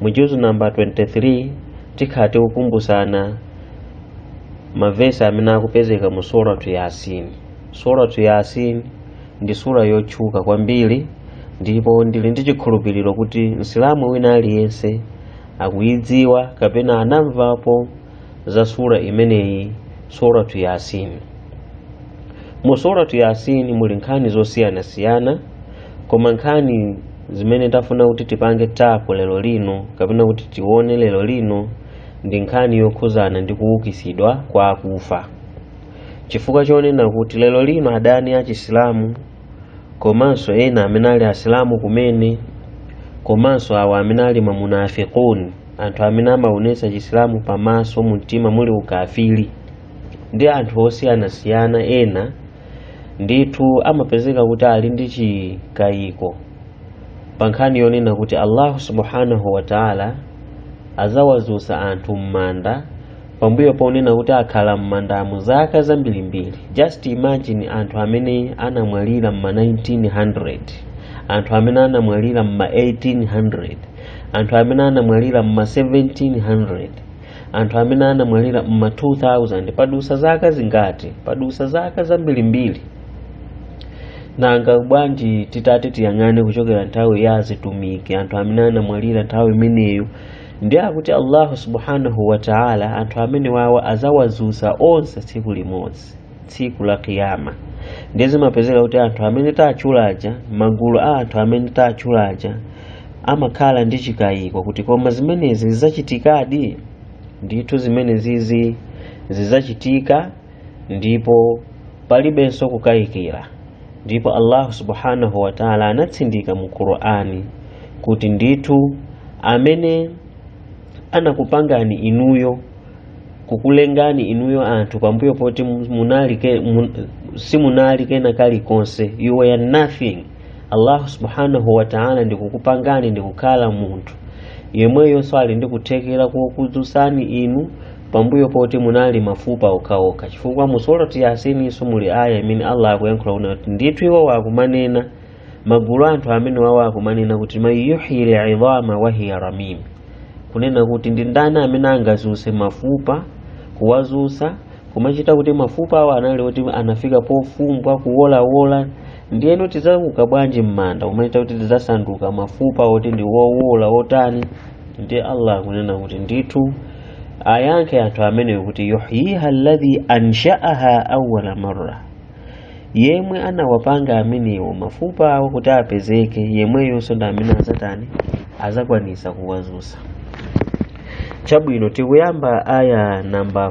mu juzu namba 23 tikhala tikukumbutsana mavesi amene akupezeka mu suratu yasin suratu yasin ndi sura yotchuka kwambiri ndipo ndili ndi chikhulupiriro kuti msilamu wina aliyense akuyidziwa kapena anamvapo za sura imeneyi suratu yasin mu suratu yasin muli nkhani zosiyanasiyana koma nkhani zimene tafuna kuti tipange tapo lero lino kapena kuti tione lero lino ndi nkhani yokhuzana ndi kuwukisidwa kwa akufa chifukwa chonena kuti lero lino adani a chisilamu komanso ena amene ali asilamu kumene komanso awo amene ali mamunafikuni anthu amene amaonesa chisilamu pamaso mumtima muli ukafiri ndi anthu osiyanasiyana ena ndithu amapezeka kuti ali ndi chikayiko pa nkhani yonena kuti allahu subhanahu wa taala azawazusa anthu m'manda pambuyo ponena kuti akhala m'mandamo zaka zambirimbiri just imagine anthu amene anamwalira m'ma 1900 anthu amene anamwalira m'ma 1800 anthu amene anamwalira m'ma 1700 anthu amene anamwalira mma 2000 padusa zaka zingati padusa zaka zambirimbiri nanga bwanji titati tiyang'ane kuchokera nthawi ya azitumiki anthu amene anamwalira nthawi imeneyo ndiye akuti allahu subhanahu wataala anthu amenewawa azawazusa onse tsiku limodzi tsiku la kiyama ndiye zimapezeka kuti anthu amene tatchula aja magulu a anthu amene tatchula aja amakhala ndi chikayiko kuti koma zimenezi zizachitikadi ndithu zimenezizi zidzachitika ndipo palibenso kukayikira ndipo allahu subhanahu wa taala anatsindika mu qur'ani kuti ndithu amene anakupangani inuyo kukulengani inuyo anthu pambuyo poti munali ke, mun, simunali kena kalikonse you were nothing allahu subhanahu wataala ndikukupangani ndikukhala munthu yemweyonso ali ndikuthekera kokudzutsani inu pambuyo poti munali mafupa okhaokha chifukwa mu surati yasininso muli aya imene allah akuyankhula kuti ndithu iwowa akumanena magulu a anthu amenewawa akumanena kuti man yuhyi lidhama wahiya ramim kunena kuti ndi ndani amene angazuse mafupa kuwazusa kumachita kuti mafupa awo anali oti anafika pofumbwa kuwolawola ndiyeno tidzauka bwanji m'manda kumachita kuti tidzasanduka mafupa oti ndi wowola wotani ndiye allah akunena kuti ndithu ayankhe anthu amenewo kuti yuhyiha alladhi anshaaha awwala marra yemwe anawapanga amenewo mafupa awo kuti apezeke yemweyonso ndamene azatani azakwanisa kuwazusa chabwino tikuyamba aya namba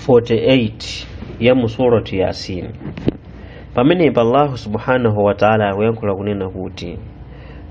48 ya mu surati yasin pamenepa allahu subhanahu wataala akuyankhula kunena kuti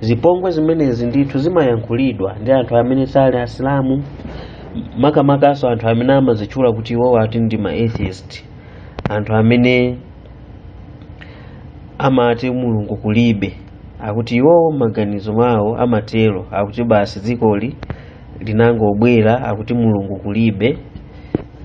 zipongwe zimenezi ndithu zimayankhulidwa ndi anthu amene sali asilamu makamakanso anthu amene amazitchula kuti iwowo ati ndi ma atheist anthu amene amati mulungu kulibe akuti iwowo maganizo mawo amatero akuti basi dzikoli linangobwera akuti mulungu kulibe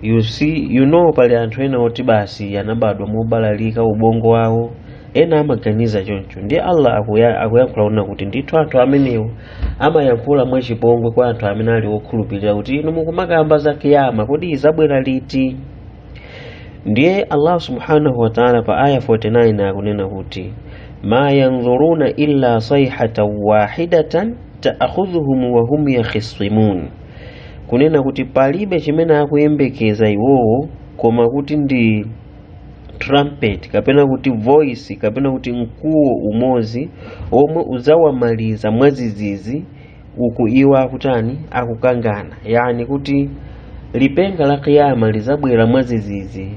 you know pali anthu ena oti basi anabadwa mobalalika ubongo wawo ena amaganiza choncho ndiye allah akuyankhula kunena kuti ndithu anthu amenewo amayankhula mwachipongwe kwa anthu amene ali okhulupirira kuti inu mukumakamba za kiyama kodi izabwera liti ndiye allah subhanahu wataala pa aya 49 akunena kuti ma yanzuruna illa sayhatan wahidatan taakhudhuhum wa hum yakhisimun kunena kuti palibe chimene akuyembekeza iwowo koma kuti ndi trumpet kapena kuti voice kapena kuti mkuwo umozi omwe uzawamaliza mwazizizi uku iwo akutani akukangana yani kuti lipenga la kiyama lizabwera mwazizizi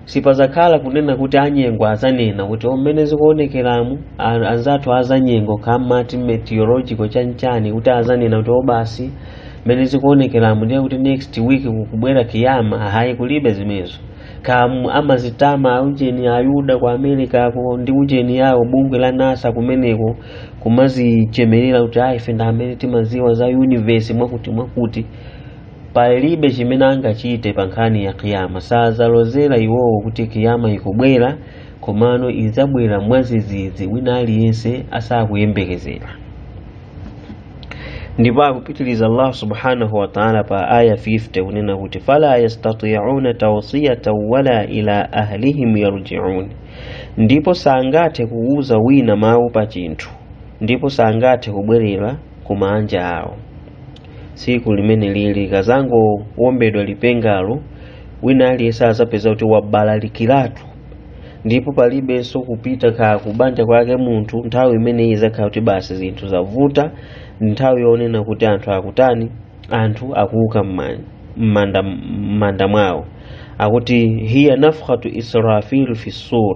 sipazakhala kunena kuti anyengo azanena kuti o mmene zikuonekeramu anzathu azanyengo kamati meteorological chanchani kuti azanena kuti o basi mmene zikuonekeramu ndiye kuti next week kukubwera kiyama hayi kulibe zimenezo kamu amazitama ujeni ayuda ku america ko ndi ujeni yawo bungwe la nasa kumeneko kumazichemerera kuti ife ndamene timaziwa za universe mwakuti mwakuti palibe chimene angachite pa nkhani ya kiyama sadzalozera iwowo kuti kiyama ikubwera komano idzabwera mwadzidzidzi wina aliyense asakuyembekezera ndipo akupitiriza allah subhanahu wataala pa aya 50 kunena kuti fala yastatiuna tausiyatan wala ila ahlihim yarjiun ndipo sangathe kuuza wina mawu pa chinthu ndipo sangathe kubwerera ku maanja awo tsiku limene lili kazangowombedwa lipengalo wina aliyense azapeza kuti wabalalikiratu ndipo palibenso kupita ka kubanja kwake munthu nthawi imene izakhala kuti basi zinthu zavuta nthawi yonena kuti anthu akutani anthu akuuka m'manda mwawo akuti hiya nafkhatu israfil fi sur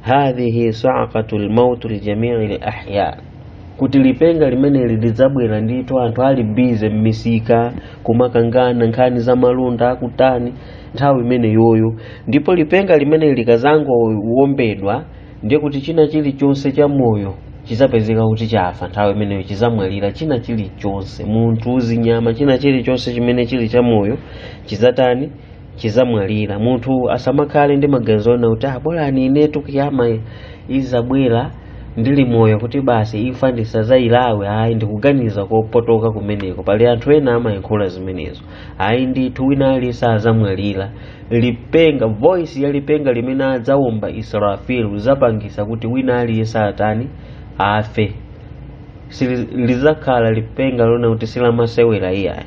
hadhihi saakatu lmauti lijamii lahya kuti lipenga limeneli lidzabwera ndithu anthu ali bizi m'misika kumakangana nkhani za malonda akutani nthawi imeneyoyo ndipo lipenga limeneli likazangowombedwa ndiye kuti china chilichonse cha moyo chizapezeka kuti chafa nthawi imeneyo chizamwalira china chilichonse munthu zinyama china chilichonse chimene chili cha moyo chizatani chizamwalira munthu asamakhale ndi maganizo ona kuti ah bora inetu kiyama izabwera ndili moyo kuti basi imfa ndisazayilawe ayi ndikuganiza kopotoka kumeneko pali anthu ena amayankhula zimenezo ayi ndithu wina aliyense azamwalira lipenga voice ya lipenga limene adzawomba israfil izapangisa kuti wina aliyense atani afe lizakhala lipenga lona kuti silamasewera iyayi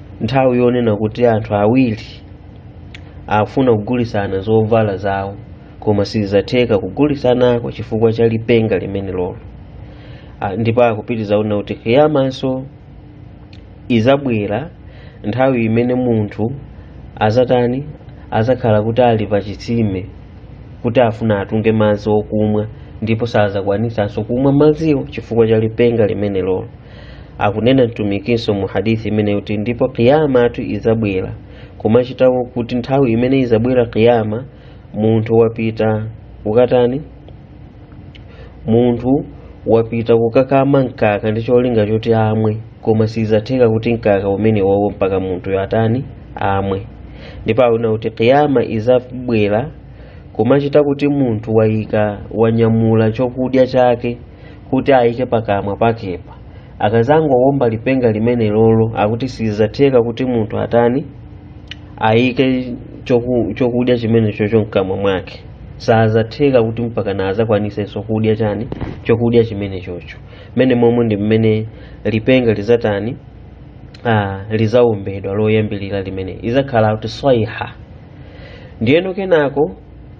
nthawi yonena kuti anthu awiri afuna kugulitsana zovala zawo koma sizatheka kugulitsanako chifukwa cha lipenga limene lolo ndipo akupitiriza kunena kuti kiyamanso izabwera nthawi imene munthu azatani azakhala kuti ali pa chitsime kuti afuna atunge madzi okumwa ndipo sazakwanisanso kumwa madziwo chifukwa cha lipenga limene lolo akunena mtumikinso mu hadithi imeneyo kuti ndipo kiyamatu izabwera kumachita kuti nthawi imene izabwera kiyama munthu wapita kukatani munthu wapita kukakama mkaka ndi cholinga choti amwe koma sizatheka kuti mkaka umene wowo mpaka munthuyo atani amwe ndipo anena kuti kiyama izabwera kumachita kuti munthu wayika wanyamula chokudya chake kuti ayike pakamwa pakepa akazangowomba lipenga limene lolo akuti sizatheka kuti munthu atani ayike chokudya chimene chocho mkamwa mwake sazatheka kuti mpaka nazakwanisenso kudya chani chokudya chimene chocho mmenemomo ndi mmene lipenga lizatani lizawombedwa loyambirira limene izakhala kuti swaiha ndiyeno kenako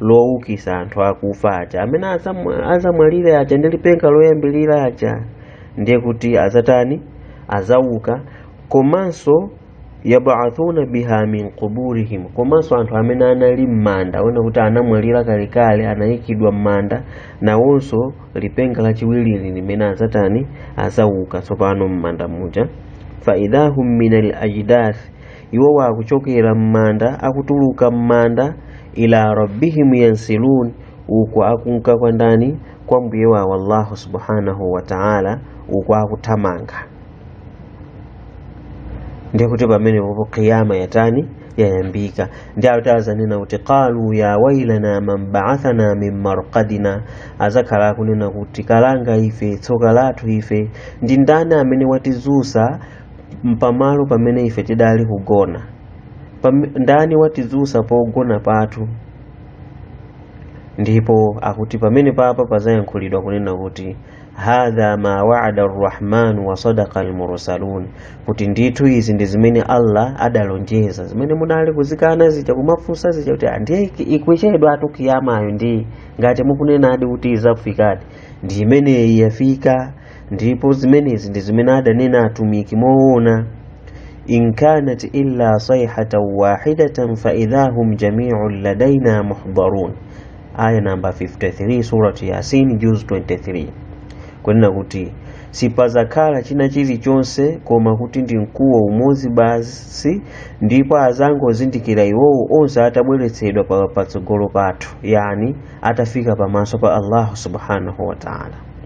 lowukisa anthu akufa aja amene azamwalire aja ndi lipenga loyambirira aja ndiye kuti azatani azauka komanso yubathuna biha min quburihim komanso anthu amene anali m'manda ona kuti anamwalira kalekale anayikidwa m'manda nawonso lipenga lachiwirili limene azatani azauka tsopano m'manda muja faidahum min al ajdath iwo wakuchokera m'manda akutuluka m'manda ila rabbihim yansilun uko akunka kwa ndani kwa mbuye wawo allahu subhanahu wa ta'ala uko akuthamanga ndiye kuti pamenepopo kiyama yatani yayambika ndi awo oti azanena kuti qalu ya wailana man ba'athana min marqadina azakhala akunena kuti kalanga ife tsoka lathu ife ndi ndani amene watizusa mpamalo pamene ife tidali kugona ndani watizusa pogona pathu ndipo akuti pamene papa pazayankhulidwa kunena kuti hadha ma waada arrahmanu wa sadaqa almursalun kuti ndithu izi ndi zimene allah adalonjeza zimene munali kuzikana zija kumafunsa zija kuti ndiye ikuchedwatu kiyamayo ndi ngati mukunenadi kuti izafikadi ndi imeneyi yafika ndipo zimenezi ndi zimene adanena atumiki moona in kanat illa sayhatan wahidatan fa idha hum jami'un ladaina muhdarun aya namba 53 surati yasin juz 23 kunena kuti sipazakhala china chilichonse koma kuti ndi mkuwo umodzi basi ndipo azangozindikira iwowo onse atabweretsedwa pa- patsogolo pathu yani atafika pamaso pa allahu subhanahu wa taala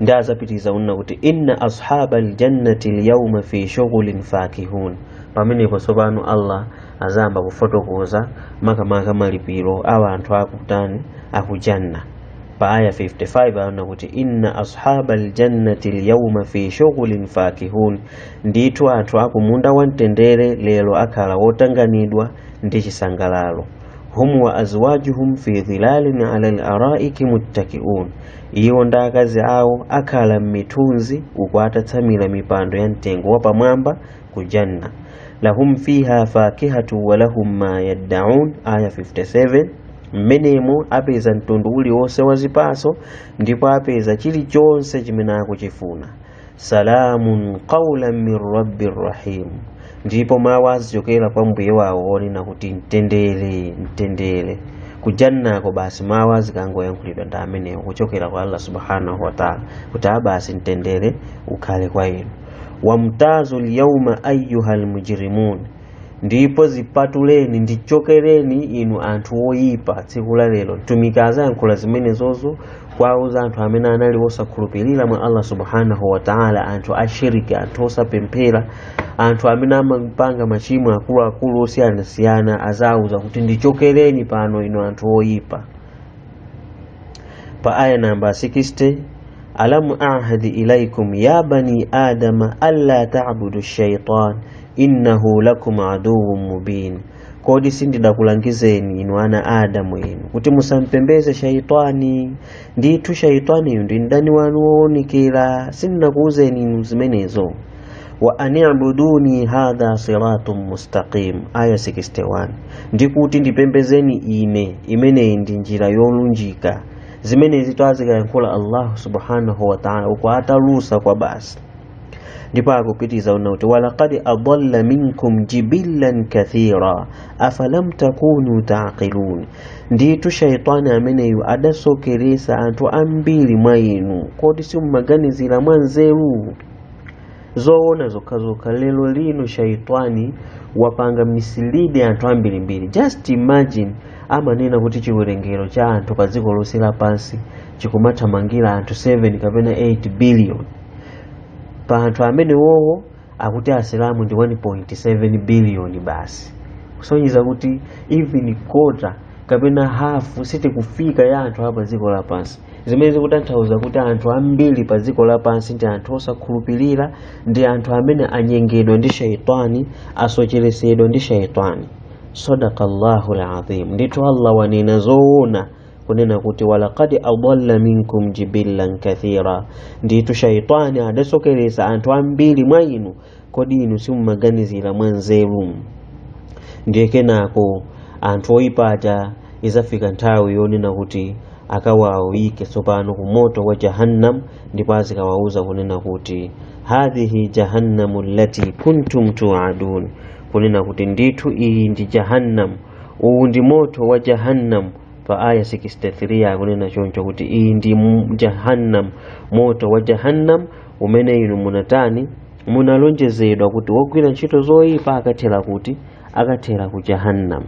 ndi azapitiza kunena kuti inna ashaba aljannati lyauma fi shughulin fakihun pamenepo tsopano allah azayamba kufotokoza makamaka malipiro a anthu akutani akujanna pa aya 55 aona kuti inna ashaba aljannati lyauma fi shughulin fakihun ndithu anthu akumunda wamtendere lero akhala wotanganidwa ndi chisangalalo hum wa azwajuhum fi dhilalin ala laraiki muttakiun iwo ndi akazi awo akhala m'mithunzi uku atatsamira mipando ya mtengo wapamwamba ku janna lahum fiha fakihatu wa lahum ma yaddaun aya 57 mmenemo apeza mtundu uliwonse wa zipaso ndipo apeza chilichonse chimene akuchifuna salamun qawlan min rabbi rrahim ndipo mawu azichokera kwa mbuye wawo onena kuti mtendere mtendere kujannako basi mawu azikangoyankhulidwa ndi amenewo kuchokera kwa allah subhanahu wataala kuti abasi mtendere ukhale kwa inu wamtazu lyauma ayuha lmujrimun ndipo zipatuleni ndichokereni inu anthu oyipa tsiku la lero mtumiki azayankhula zimenezozo kwauza anthu amene anali osakhulupirira mwa allah subhanahu wataala anthu ashiriki anthu osapemphera anthu amene amapanga machimo akuluakulu osiyanasiyana azauza kuti ndichokereni pano inu anthu oyipa pa aya namba 60 alamu ahadi ilaikum ya bani adama an la tabudu shaitan innahu lakum aduwwun mubin kodi sindidakulangizeni inu ana a adamu inu kuti musampembeze shaitani ndithu shaitaniyu ndi mdani wanu woonekera sindinakuwuzeni inu zimenezo wa anibuduni hadha siratun mustaqim aya 61 ndikuti ndipembezeni ine imeneyi ndi njira yolunjika zimenezi adzikayankhula allahu subhanahu wa taala uku atalusa kwa basi ndipo akupitiriza kunena kuti walaqad adalla minkum jibillan kathira afalam takunu taqilun ndithu shaitani ameneyu adasokeresa anthu ambiri mwa inu kodi simumaganizira mwa nzeru zoona zokhazokha lero lino shaitani wapanga misilidi anthu ambirimbiri just imagine amanena kuti chiwerengero cha anthu pa dziko lonse lapansi chikumathamangira anthu 7 kapena 8 billion pa anthu amenewowo akuti asilamu ndi 1.7 biliyoni basi kusonyeza kuti even kota kapena hafu sitikufika ya anthu a pa dziko lapansi zimene zikutanthauza kuti anthu ambiri pa dziko lapansi ndi anthu osakhulupirira ndi anthu amene anyengedwa ndi shaitani asocheresedwa ndi shaitani sadaqallahu lazim ndithu allah wanena zoona kunena kuti walaqad adalla minkum jibillan kathira ndithu shaitani adasokeresa anthu ambiri mwa inu kodi inu simumaganizira mwa nzeru ndiye kenako anthu oyipa aja izafika nthawi yonena kuti akawawike tsopano ku moto wa jahannam ndipo azikawauza kunena kuti hadhihi jahannamu allati kuntum tuadun kunena kuti ndithu iyi ndi jahannam uwu ndi moto wa jahannam pa aya 63 akunena choncho kuti iyi ndi jahannam moto wa jahannam umene inu munatani munalonjezedwa kuti wogwira ntchito zoyipa akathera kuti akathera ku jahannam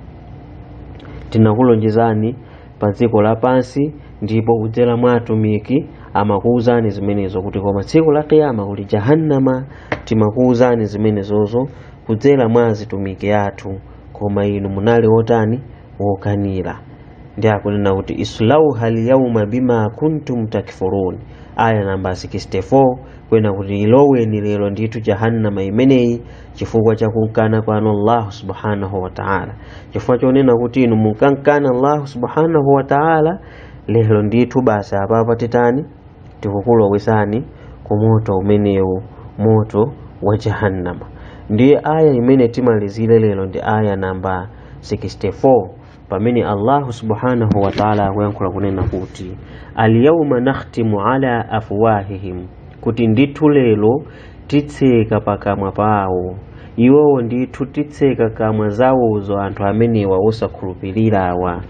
tinakulonjezani pa dziko lapansi ndipo kudzera mwa atumiki amakuwuzani zimenezo kuti koma tsiku la kiyama kuli jahannama timakuwuzani zimenezozo kudzera mwa azitumiki athu koma inu munali wotani wokanira ndiye akunena kuti islauha lyauma bima kuntum takfurun aya namba 64 kunena kuti iloweni lero ndithu jahannama imeneyi chifukwa cha kunkana kwanu allahu subhanahu wataala chifukwa chonena kuti inu munkankana allahu subhanahu wataala lero ndithu basi apapa titani tikukulowesani ku moto umenewu moto wa jahannama ndiye aya imene timalizire lero ndi aya namba 64 pamene allahu subhanahu wa taala akuyankhula kunena kuti alyauma nakhtimu ala afwahihim kuti ndithu lero titseka pakamwa pawo iwowo ndithu titseka kamwa zawozo anthu amenewa osakhulupirirawa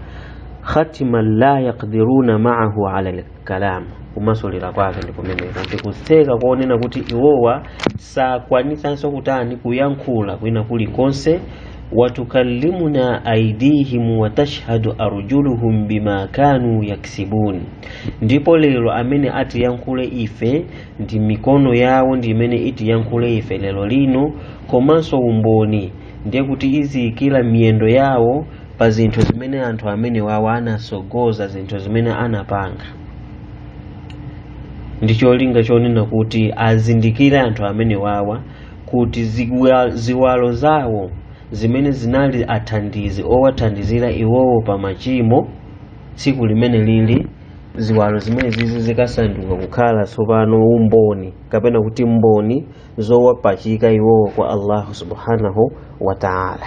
khatiman la yakdiruna maahu ala kalam kumasulira kwake ndi kumeneko kuti kutseka konena kuti iwowa sakwanitsanso kutani kuyankhula kwina kulikonse watukallimuna aidihim watashhadu arjuluhum bima kanu yaksibun ndipo lero amene atiyankhule ife ndi mikono yawo ndi imene itiyankhule ife lero lino komanso umboni ndiye kuti idzaikira miyendo yawo pa zinthu zimene anthu amenewawa anatsogoza zinthu zimene anapanga ndi cholinga chonena kuti azindikire anthu amenewawa kuti ziwa- ziwalo zawo zimene zinali athandizi owathandizira iwowo pa machimo tsiku limenelili ziwalo zimenezizi zikasanduka kukhala tsopano umboni kapena kuti mboni zowapachika iwowo kwa allahu subhanahu wa taala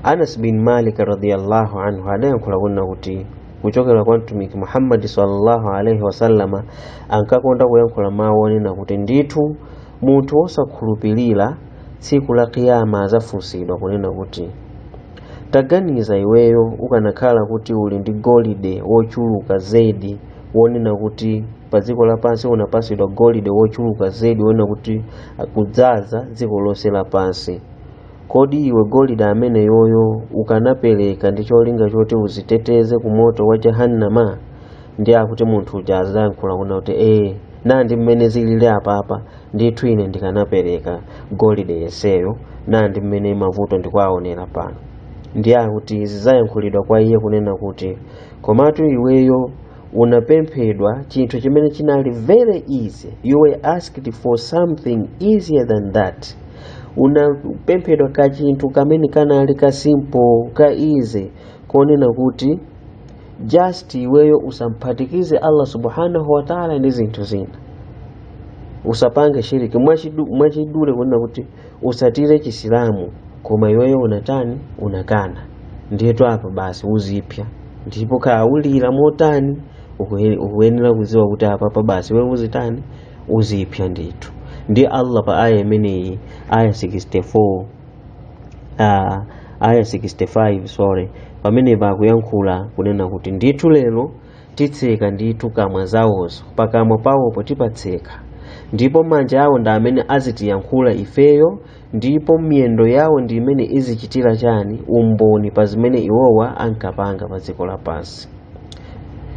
anas bin malik radiallahu anhu adayankhula kunena kuti kuchokera kwa mtumiki muhammadi sallallahu alaihi wasallama ankakonda kuyankhula mawu onena kuti ndithu munthu wosakhulupirira tsiku la kiyama adzafunsidwa kunena kuti taganiza iweyo ukanakhala kuti uli ndi golide wochuluka zedi wonena kuti pa dziko lapansi unapatsidwa golide wochuluka zedi wonena kuti kudzaza dziko lonse lapansi kodi iwe golide ameneyoyo ukanapereka ndi cholinga choti udziteteze ku moto wa jahannama ndiye akuti munthu uja adzayankhula kunena kuti ee nandi mmene zilili apapa ndithu ine ndikanapereka golide yenseyo nandi mmene mavuto ndikuwaonera pano ndiye akuti zidzayankhulidwa kwa iye kunena kuti komatu iweyo unapemphedwa chinthu chimene chinali very easy you were asked for something easier than that unapemphedwa kachinthu kamene kanali ka simple ka easy konena kuti just iweyo usamphatikize allah subhanahu wa taala ndi zinthu zina usapange shiriki mwachidule kunena kuti utsatire chisilamu koma iweyo unatani unakana ndiyetu apa basi uzipsa ndipo khaula motani ukuye- ukuyenera kudziwa kuti apapa basi iwe uzitani uzipsa ndithu ndiye allah pa aya imeneyi aya 64 ah, aya 65 sorry pamenepa akuyankhula kunena kuti ndithu lero titseka ndithu kamwa zawozo, pakamwa pawopo tipatseka, ndipo manja awo ndi amene azitiyankhula ifeyo, ndipo miyendo yawo ndi imene izichitira chani umboni pa zimene iwowa ankapanga pa dziko lapansi.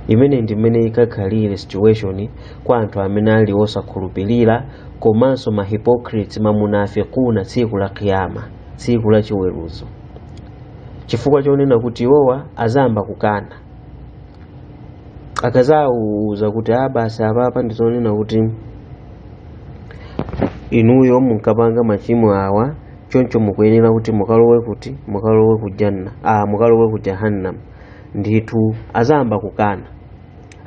Imeneyi ndi mmene ikakhalire situation kwa anthu amene ali osakhulupirira komanso ma hypocrites mamunafikuna tsiku la kiyama, tsiku la chiweruzo, chifukwa chonena kuti iwowa azayamba kukana. akazawuza kuti a basi apapa ndizonena kuti inuyo munkapanga machimo awa choncho mukuyenera kuti mukalowe kuti mukalowe ku ja- ah, mukalowe ku jahannam ndithu azayamba kukana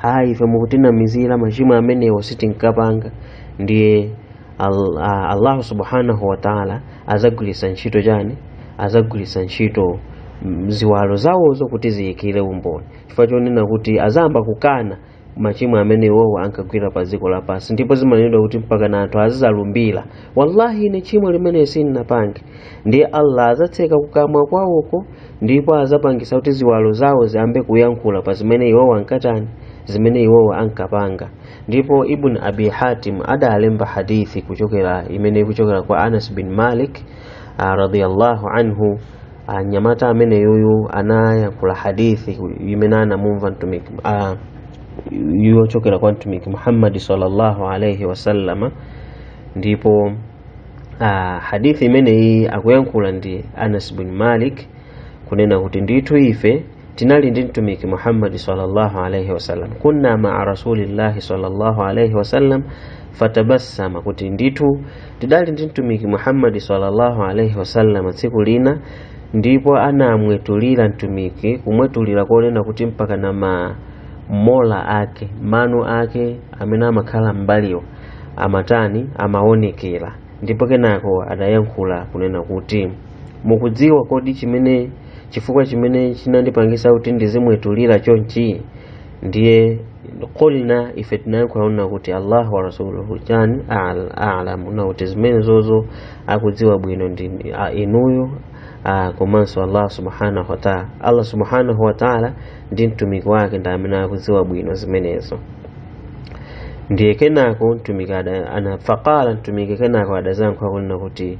ayi ife mukutinamizira machimo amenewo sitinkapanga ndiye Allah subhanahu wa ta'ala azagwiritsa ntchito chani azagwiritsa ntchito ziwalo zawozo kuti ziyikire umboni chifukwa chonena kuti azayamba kukana machimo amene iwowo ankagwira pa dziko lapansi ndipo zimanenedwa kuti mpakana anthu azizalumbira wallahi ine tchimo limeneli sindinapange ndiye allah azatseka kukamwa kwawoko ndipo azapangisa kuti ziwalo zawo ziyambe kuyankhula pa zimene iwowo ankatani zimene iwowo ankapanga ndipo ibn abi hatim adalemba hadithi kuchokera imene ikuchokera kwa anas bin malik ah, radiyallahu anhu ah, mnyamata ameneyuyu anayankhula hadithi ku- imene anamumva mtumiki ah, yochokera kwa mtumiki muhammadi sallallahu alaihi wasallama ndipo ah, hadithi imeneyi akuyankhula ndi anas bin malik kunena kuti ndithu ife tinali ndi mtumiki muhammadi sallallahu alaihi wasallam kunna maa rasulillahi sallallahu alaihi wasallam fatabassama kuti ndithu tidali ndi mtumiki muhammadi sallallahu alaihi wasallam tsiku lina ndipo anamwetulira mtumiki kumwetulira konena kuti mpakana ma molar ake mano ake amene amakhala m'mbaliwo amatani amaonekera ndipo kenako adayankhula kunena kuti mukudziwa kodi chimene chifukwa chimene chinandipangisa kuti ndizimwetulira chonchi ndiye kulna ife tinayankhula kunena kuti allah wa rasuluhu chani al- alamu kunena kuti zimenezozo akudziwa bwino ndi a- inuyo ah, komanso allah subhanahu wataala allah subhanahu wataala ndi mtumiki wake ndi amene akudziwa bwino zimenezo ndiye kenako mtumiki ada- ana faqala mtumiki kenako adazayankha kunena kuti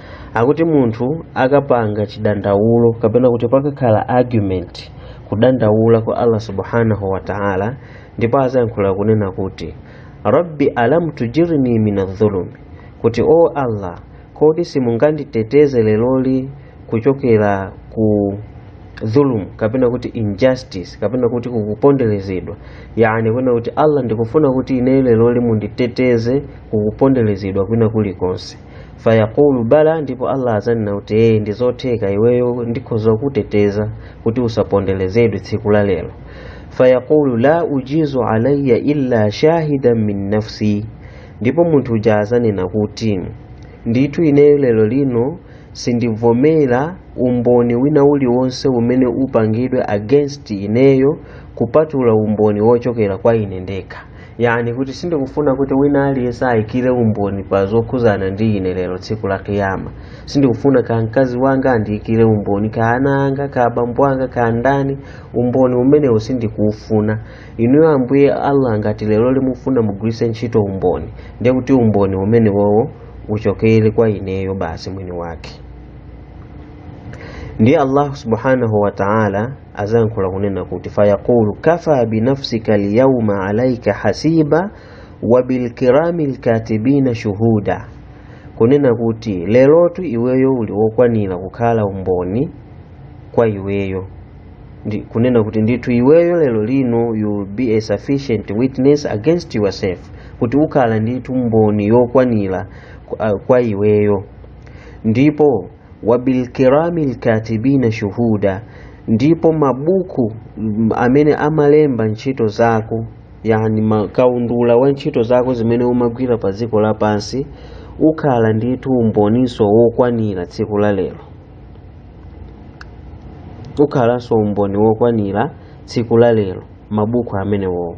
akuti munthu akapanga chidandaulo kapena kuti pakakhala argument kudandaula kwa allah subhanahu wa ta'ala ndipo azayankhula kunena kuti rabbi alam tujirni min adh-dhulumi kuti o allah kodi simunganditeteze leloli kuchokera ku dhulum kapena kuti injustice kapena kuti kukuponderezedwa yani kwena kuti allah ndikufuna kuti ine leloli munditeteze kukuponderezedwa kwina kulikonse fayaqulu bala ndipo allah azanena kuti ee ndizotheka iweyo ndikhoza kuteteza kuti usaponderezedwe tsiku la lero fayaqulu la ujizu alayya illa shahidan min nafsi ndipo munthu uja azanena kuti ndithu ineyo lero lino sindivomera umboni wina uliwonse umene upangidwe against ineyo kupatula umboni wochokera kwa ine ndekha yani kuti sindikufuna kuti wina aliyense ayikire umboni pa zokhuzana ndi ine lero tsiku la kiyama sindikufuna ka mkazi wanga andiyikire umboni ka ana anga ka abambo anga ka ndani umboni umenewo sindikuufuna inuyo ambuye allah ngati lero limufuna mugwiritse ntchito umboni ndiye kuti umboni umenewowo uchokere kwa ineyo basi mwini wake ndiye allah subhanahu wa taala azayankhula kunena kuti fayaqulu kafa binafsika lyauma alaika hasiba wa bilkirami lkatibina shuhuda kunena kuti lerotu iweyo uli wokwanira kukhala umboni kwa iweyo kunena kuti ndithu iweyo lero lino you will be a sufficient witness against yourself kuti ukhala ndithu mboni yokwanira kwa iweyo ndipo wabilkirami lkatibina shuhuda ndipo mabuku amene amalemba ntchito zako yani ma- kaundula wa ntchito zako zimene umagwira pa dziko lapansi ukhala ndithu umboninso wokwanira tsiku la lero ukhalanso umboni wokwanira tsiku la lero mabuku amenewowo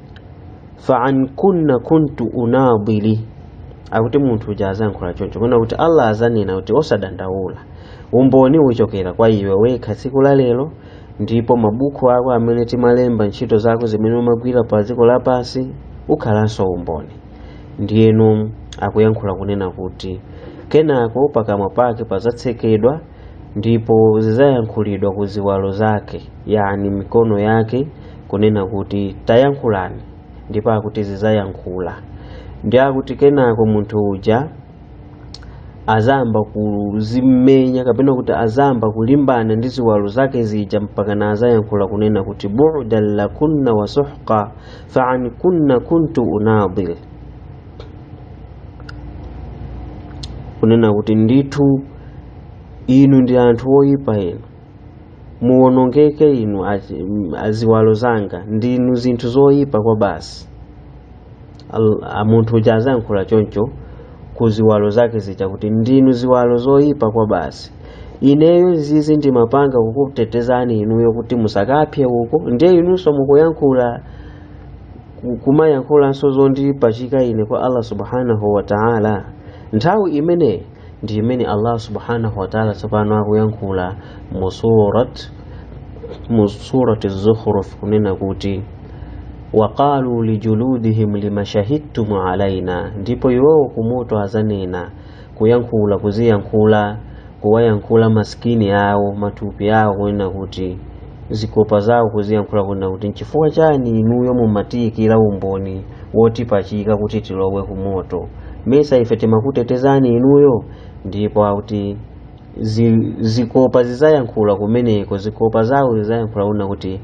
fa'an kunna kuntu unadili akuti munthu uja azayankhula choncho kunena kuti allah azanena kuti osadandaula umboni uchokera kwa iwe wekha tsiku la lero ndipo mabuku ako amene timalemba ntchito zako zimene umagwira pa dziko lapansi ukhalanso umboni ndiyeno akuyankhula kunena kuti kenako pakamwa pake pazatsekedwa ndipo zizayankhulidwa ku ziwalo zake yani mikono yake kunena kuti tayankhulani ndipo akuti zizayankhula ndiye akuti kenako munthu uja azayamba kuzimenya kapena kuti azayamba kulimbana ndi ziwalo zake zija mpakana azayankhula kunena kuti bu'dan lakunna wa suhqa fa an kunna kuntu unadil kunena kuti ndithu inu ndi anthu oyipa inu muwonongeke inu achi- m- aziwalo zanga ndinu zinthu zoyipa kwa basi Al- a- munthu uja azayankhula choncho ku ziwalo zake zija kuti ndinu ziwalo zoyipa kwa basi ineyo zizi ndimapanga kukutetezani inuyo kuti musakapsye uko ndiye inunso mukuyankhula kumayankhulanso zondipachika ine kwa Allah subhanahu wa ta'ala nthawi imeneyi ndi imene Allah subhanahu wa ta'ala tsopano akuyankhula mu surat mu surati zukhruf kunena kuti waqalu lijuludihim limashahidtum alaina ndipo iwowo kumoto azanena kuyankhula kuziyankhula kuwayankhula ma skin awo matupi awo kunena kuti zikopa zawo kuziyankhula kunena kuti nchifukwa chani inuyo mumatiyikira umboni wotipachika kuti tilowe ku moto mesa ife timakutetezani inuyo ndipo akuti zi- zikopa zizayankhula kumeneko zikopa zawo zizayankhula kunena kuti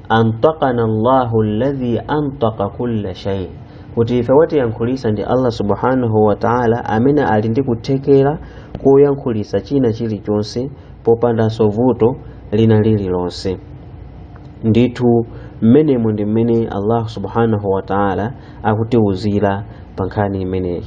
antaqana allahu alladhi antaqa kulla shay kuti ife watiyankhulisa ndi allah subhanahu wa taala amene ali ndi kuthekera koyankhulitsa china chilichonse popandanso vuto lina lililonse ndithu mmenemo ndi mmene allah subhanahu wa taala akutiwuzira pa nkhani imeneyi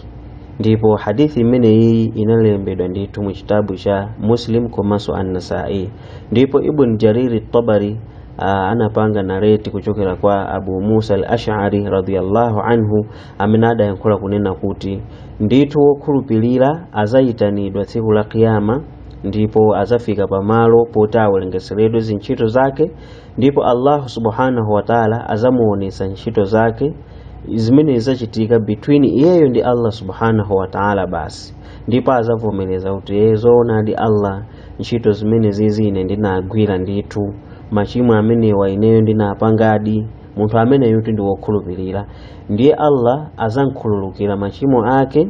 ndipo hadisi imeneyi inalembedwa ndithu mu chitabu cha muslim komanso annasai ndipo ibn jariri tabari uh, anapanga narrate kuchokera kwa abu musa al ashari radiyallahu anhu amene adayankhula kunena kuti ndithu wokhulupirira azayitanidwa tsiku la kiyama ndipo azafika pamalo poti awerengeseredwe zintchito zake ndipo allahu subhanahu wataala azamuonesa ntchito zake zimene zizachitika between iyeyo ndi allah subhanahu wataala basi ndipo azavomereza kuti ee zoonadi allah ntchito zimene zizi ine ndinagwira ndithu machimo amenewa ineyo ndinapangadi munthu ameneyutu ndi wokhulupirira ndiye allah azamkhululukira machimo ake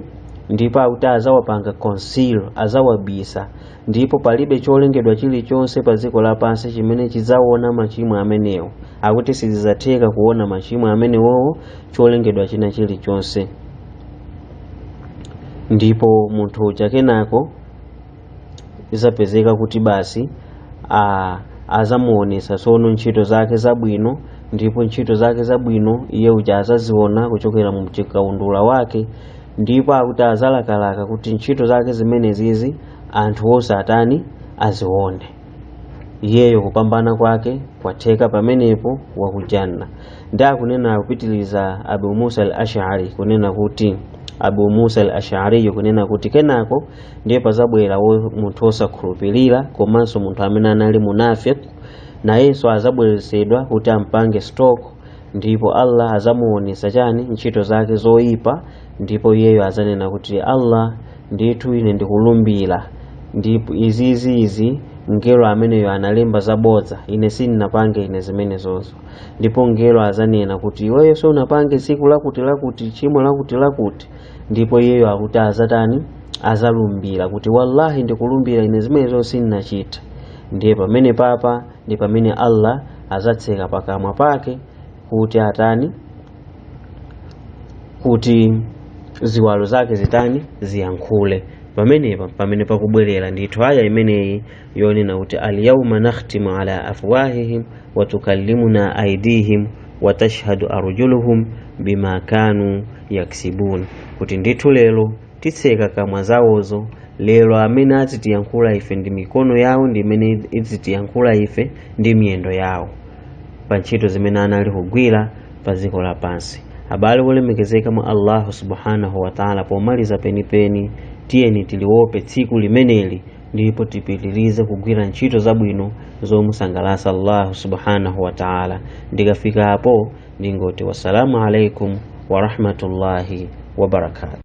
ndipo akuti azawapanga conceal azawabisa ndipo palibe cholengedwa chilichonse pa dziko lapansi chimene chidzaona machimo amenewo akuti sizidzatheka kuona machimo amenewowo cholengedwa china chilichonse ndipo munthu uja kenako izapezeka kuti basi azamuonesa sono ntchito zake zabwino ndipo ntchito zake zabwino iye uja azaziona kuchokera mu chikaundula wake ndipo akuti azalakalaka kuti ntchito zake zimenezizi anthu onse atani azione iyeyo kupambana kwake kwatheka pamenepo waku janna ndi akunena kupitiliza abu musa al ashari kunena kuti abu musa al ashariyo kunena kuti kenako ndiye pazabwera munthu wosakhulupirira komanso munthu amene anali munafiq nayenso azabweresedwa kuti ampange stock ndipo allah azamuonesa chani ntchito zake zoyipa ndipo iyeyo azanena kuti allah ndithu ine ndikulumbira izizi izi mngelo ameneyo analemba zabodza ine sindinapange ine zimenezozo ndipo mngelo azanena kuti iweyo sunapange tsiku lakuti lakuti tchimo lakuti lakuti ndipo iyeyo akuti azatani azalumbira kuti wallahi ndikulumbira ine zimenezo sindinachita ndiye pamene papa ndi pamene allah azatseka pakamwa pake kuti atani kuti ziwalo zake zitani ziyankhule pamenepa pamene pakubwerera ndithu aya imeneyi yonena kuti alyauma nakhtimu ala afwahihim watukallimuna aidihim watashhadu arjuluhum bima kanu yaksibun kuti ndithu lero titseka kamwa zawozo lero amene azitiyankhula ife ndi mikono yawo ndi imene izitiyankhula ife ndi miyendo yawo pa ntchito zimene anali kugwira pa dziko lapansi abale olemekezeka mwa allahu subhanahu wataala pomaliza penipeni tiyeni tiliwope tsiku limeneli ndipo tipitirize kugwira ntchito zabwino zomusangalatsa allahu subhanahu wa taala ndikafika apo ndingoti wassalamu alaikum warahmatullahi wabarakatu